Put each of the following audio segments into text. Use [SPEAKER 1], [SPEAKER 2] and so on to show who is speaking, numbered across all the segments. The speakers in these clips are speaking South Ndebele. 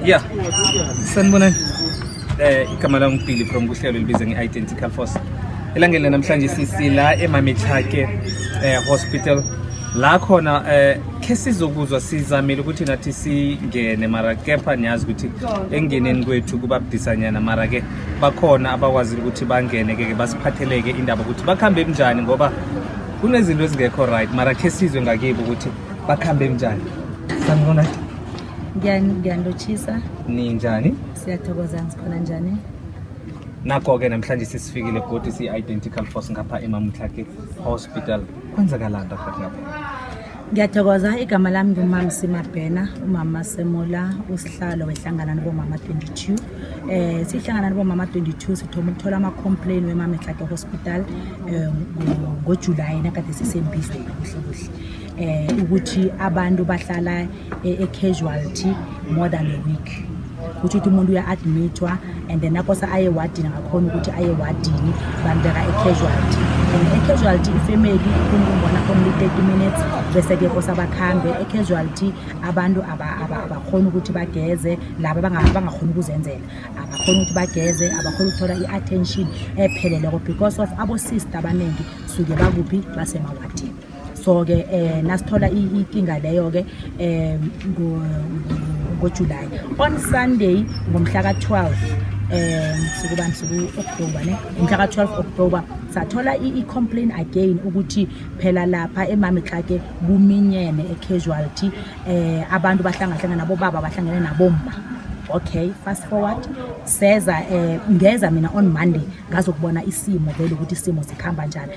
[SPEAKER 1] Yeah. Sanibonani. Eh igama lami uBilly from kuhlelo libiza nge-Identical Force. Elangeni lanamhlanje sisi la eMamithake eh hospital la khona eh khe sizokuzwa sizamile ukuthi nathi singene mara kepha niyazi ukuthi engeneni kwethu kuba budisanyana mara ke bakhona abakwazile ukuthi bangene ke basiphatheleke indaba ukuthi bakhambe kunjani ngoba kunezinto ezingekho right mara khe sizwe ngakibo ukuthi bakhambe kunjani sanibona ngiyanilotshisa
[SPEAKER 2] ninjani
[SPEAKER 1] siyathokoza ngikhona
[SPEAKER 2] njani nako-ke
[SPEAKER 1] namhlanje sisifikile godi siyi-identical force ngapha emamtlake hospital kwenzakalani rahat ngapha ngiyathokoza
[SPEAKER 2] igama lami ngumama simabhena umama semola usihlalo wehlangana nibomama 22 um eh, sihlangana nibomama 22 sithoma ukuthola ama-complain wemametlake hospital um eh, ngojulayi nakade sisembizweni kuhle kuhle eh ukuthi abantu bahlala eh, e-casualty more than a week kutho ukuthi umuntu uya-admithwa and then akosa aye wadini ngakhona ukuthi aye wadini bambeka e-casualty and e-casualty ifamily kumbona only 30 minutes bese-ke kosa bakhambe e-casualty abantu abakhona ukuthi bageze laba bangakhona ukuzenzela abakhona ukuthi bageze abakhona ukuthola i-attention epheleleko because of abosister abaningi suke bakuphi basemawadini so-ke um nasithola ikinga leyo-ke um ngojulayi on sunday ngomhla ka-12 um sukubani suku-oktoba ne ngomhla ka-12 oktoba sathola i-complain again ukuthi phela lapha emamitlake kuminyene e-casualty um abantu bahlangahlangana nabobaba bahlangene nabomma okay fast forward seza eh ngeza mina on monday ngazokubona isimo vele ukuthi isimo sikhamba njani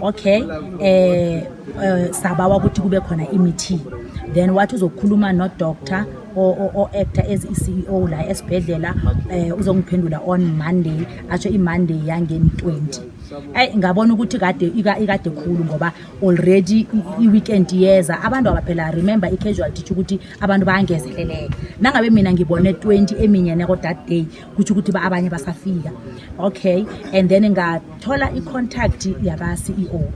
[SPEAKER 2] okay eh uh, sabawa ukuthi kube khona i-meeting then wathi uzokhuluma nodoctor o-actor as i-ceo la esibhedlela um uzongiphendula on monday asho imonday yangeni 20 ayi ngabona ukuthi kade ikade khulu ngoba already i-weekend yeza abantu abaphela remember i-casualty tsho ukuthi abantu bayangezeleleka nangabe mina ngibone 20 eminyeneko that day kutsho ukuthi abanye basafika okay and then ngathola i-contact yaka-ceo um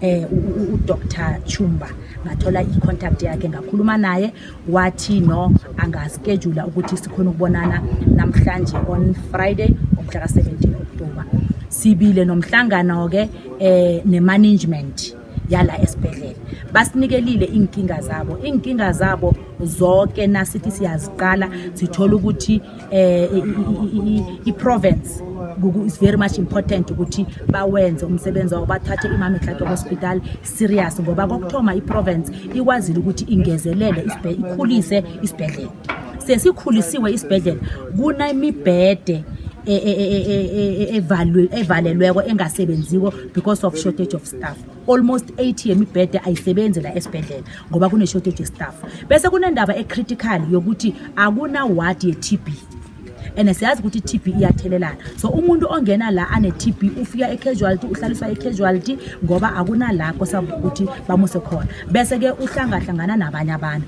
[SPEAKER 2] eh, udr chumba ngathola i-contact yakhe ngakhuluma naye wathi no angaskedula ukuthi sikhona ukubonana namhlanje on friday umhla ka-17 october sibile nomhlangano-ke um eh, ne-management yala esibhedlela basinikelile iinkinga zabo iinkinga zabo zonke nasithi siyaziqala sithola ukuthi um i-province is very much important ukuthi bawenze umsebenzi wabo bathathe imama ihlato hospital serious ngoba kokuthoma i-province ikwazile ukuthi ingezelele ikhulise isibhedlela sesikhulisiwe isibhedlela kunemibhede e, e, e, evalelweko engasebenziko because of shortage of staff almost 80 yemibhede ayisebenzi la esibhedlela ngoba kune-shortage yestaff bese kunendaba ecritical yokuthi akuna-ward ye-t b and siyazi ukuthi i-t b iyathelelana so umuntu ongena la ane-t b ufika ecasuality uhlaliswa ecasuality ngoba akunalakho sabukuthi bamuse khona bese-ke uhlangahlangana nabanye abantu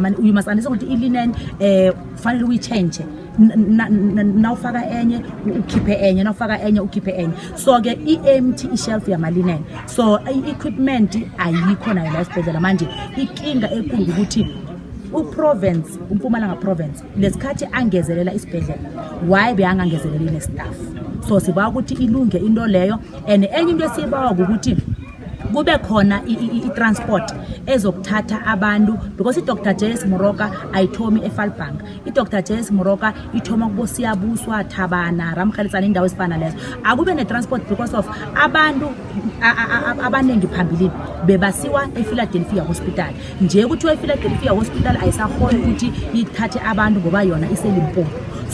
[SPEAKER 2] mani uyumazanisa ukuthi ilinen um kufanele uyitshentshe nawufaka enye ukhiphe enye nawufaka enye ukhiphe enye so-ke i-empty ishelf yamalinen so i-equipment ayikho nayo la esibhedlela manje ikinga ekulu ukuthi uprovince umpumalanga province nesikhathi angezelela isibhedlela why beyangangezeleli nestaff so sibawa ukuthi ilunge into leyo and enye into esiyibawa ukuthi kube khona i-transport ezokuthatha abantu because idr js moroka ayithomi efalbank idr js moroka ithoma kubosiyabuswa thabana ramhalitsana indawo ezifana lezo akube ne-transport because of abantu abaningi phambilini bebasiwa efiladelphia hospital nje kuthiwa efiladelphia hospital ayisahoni ukuthi ithathe abantu ngoba yona iselimpopo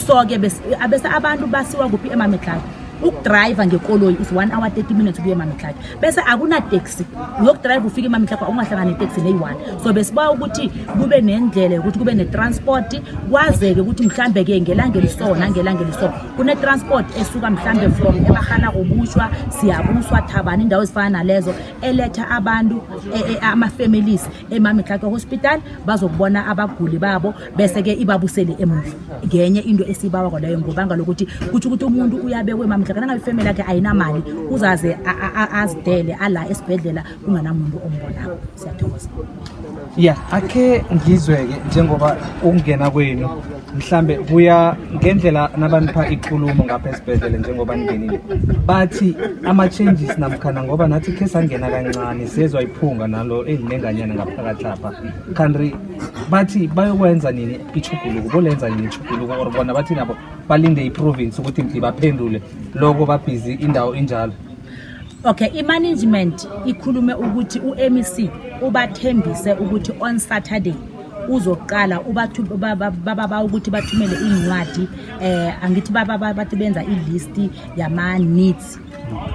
[SPEAKER 2] so-ke abese abantu basiwa kuphi emamedlalo ukudrayiva ngekoloyi is one hour 30 minutes ukuye emamitlaki bese akunateksi uyokudrayiva ufike emamitlaki ungahlangani neteksi neyi-one so besiba ukuthi kube nendlela yokuthi kube netransport kwazeke ukuthi mhlawumbe-ke ngelanga elisona ngelanga elisona kune-transport esuka mhlawumbe from ebahana kubutshwa siyabuswa thabani indawo ezifana nalezo eletha abantu e, e, ama-families emamitlake hospital bazokubona abaguli babo bese-ke ibabusele emuva ngenye into esiyibawa kwaleyo ngobanga lokuthi kutsho ukuthi umuntu uyabekwe emamitlake nangabe ifamily yakhe ayinamali uzaze azidele ala esibhedlela kunganamuntu ombonako siyathokoza ya
[SPEAKER 1] akhe ngizwe-ke njengoba ukungena kwenu mhlambe kuya ngendlela nabanipha ikulumo ngapha esibhedlele njengoba ningenile bathi ama-changes namkhana ngoba nathi khe sangena kancane sezwa iphunga nalo elinenganyana ngaphakathi lapha kanti bathi bayokwenza nini ichuguluko bolenza nini ichuguluko or bona bathi nabo balinde iprovince ukuthi mdi baphendule loko babhizi indawo injalo Okay,
[SPEAKER 2] i-management ikhulume ukuthi u-MEC ubathembise ukuthi on Saturday uzoqala ubathu baba ukuthi bathumele iincwadi eh angithi baba bathi benza i-list yama needs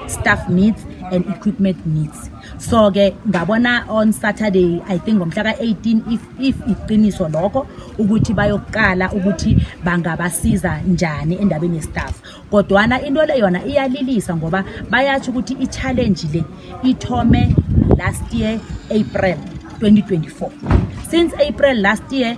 [SPEAKER 2] staff needs and equipment needs so ke ngabona on saturday i think ngomhla ka-18 if, if iqiniso lokho ukuthi bayokuqala ukuthi bangabasiza njani endabeni yestaff kodwana into le yona iyalilisa ngoba bayatsho ukuthi i-challenge le ithome last year april 2024 since april last year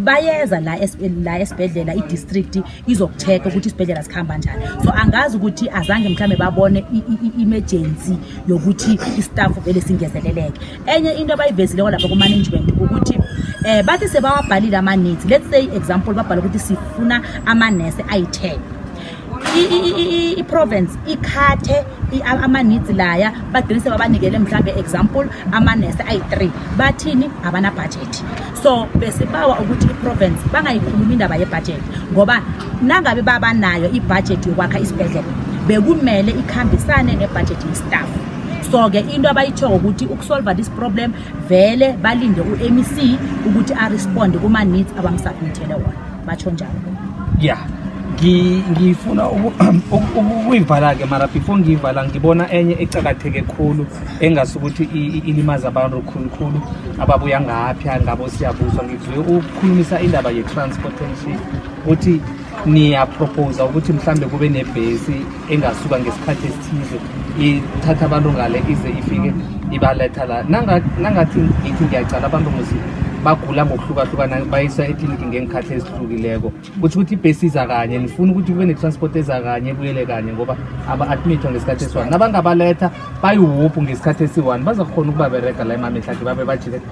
[SPEAKER 2] bayeza la la esibhedlela i-district izokucheka ukuthi isibhedlela sikhamba njani so angazi ukuthi azange mhlawumbe babone i-emergency yokuthi istaff vele singezeleleke enye into abayivezileko lapha kumanagement ukuthi um bathi sebawabhalile amanetsi let's say example babhala ukuthi sifuna amanese ayi-ten i-province ikhathe amanitsi laya bagcine sebabanikele mhlawumbe example amanese ayi-three bathini abanabhajethi so besibawa ukuthi iprovince bangayikhulumi indaba yebhajethi ngoba nangabe babanayo ibhajethi yokwakha isibhedlela bekumele ikhambisane nebhajethi yestaff so-ke into abayitshoko ukuthi ukusolva this problem vele balinde u-mec ukuthi aresponde kuma-needs abamsubmithele wona batsho njalo ya
[SPEAKER 1] ngifuna ukuyivala-ke mara before ngiyivala ngibona enye ecakatheke khulu engasi ukuthi ilimaza abantu khulukhulu ababuya ngaphi ngabo siyabuzwa ngizwe ukukhulumisa indaba ye-transportation ukuthi niyaprophosa ukuthi mhlawumbe kube nebhesi engasuka ngesikhathi esithize ithatha abantu ngale ize ifike ibaletha la nangathi ngithi ngiyacala abantu muzi bagula ngokuhlukahlukana bayisa ekliniki ngeenkhathi ezihlukileko kutho ukuthi ibhesi iza kanye nifuna ukuthi kube ne-transport eza kanye ebuyele kanye ngoba aba-admithwa ngesikhathi esiwani nabangabaletha bayiwuphu ngesikhathi esiwani baza kukhona ukubaberega la emamehlakhe babe bajile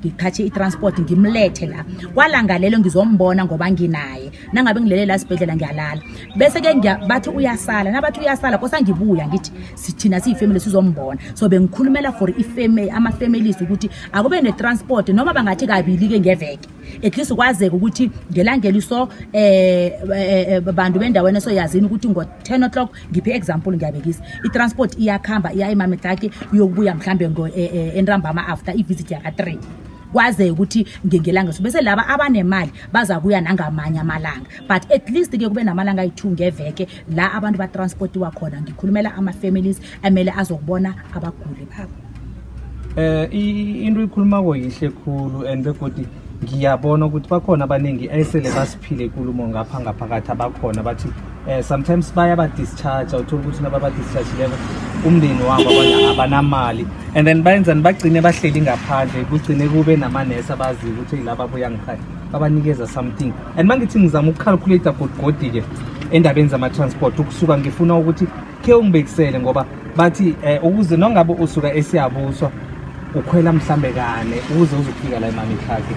[SPEAKER 2] ngithathe i-transport ngimlethe la kwalangalelo ngizombona ngoba nginaye nangabe ngilele la sibhedlela ngiyalala bese-ke bathi uyasala nabathi uyasala kosa ngibuya ngithi sithina siyifamily sizombona so bengikhulumela for ama-families ukuthi akube ne-transport noma bangathi kabili-ke ngeveke at least kwazeke ukuthi ngelangeli so um eh, eh, eh, bantu bendaweni esoyazini ukuthi ngo-ten o'clock ngiphe example ngiyabekisa i-transport iyakuhamba iya emametlaki uyokubuya mhlawumbe eh, eh, entambama after ivisit yaka-three kwazeke ukuthi ngengelanga so bese laba abanemali baza kuya nangamanye amalanga but at least ke kube namalanga ayi-two ngeveke la abantu batransportiwa khona ngikhulumela ama-families amele azokubona abaguli babo eh into
[SPEAKER 1] ikhuluma ko yihle khulu and begodi ngiyabona ukuthi bakhona abaningi ayisele basiphile ikulumo ngapha ngaphakathi abakhona bathi um sometimes bayabadischarge awuthola ukuthi nababadischargileko umndeni wabo abanamali and then bayenzani bagcine bahleli ngaphandle kugcine kube namanesi abaziyo ukuthi yilaba abuya ngikhaya babanikeza something and mangithi ngizama ukucalculate godigodi-ke endabeni zama-transport ukusuka ngifuna ukuthi khe ungibekisele ngoba bathi eh, ukuze nongabe usuka esiyabuswa ukhwela mhlambe kane ukuze uzofika la emamikhakhe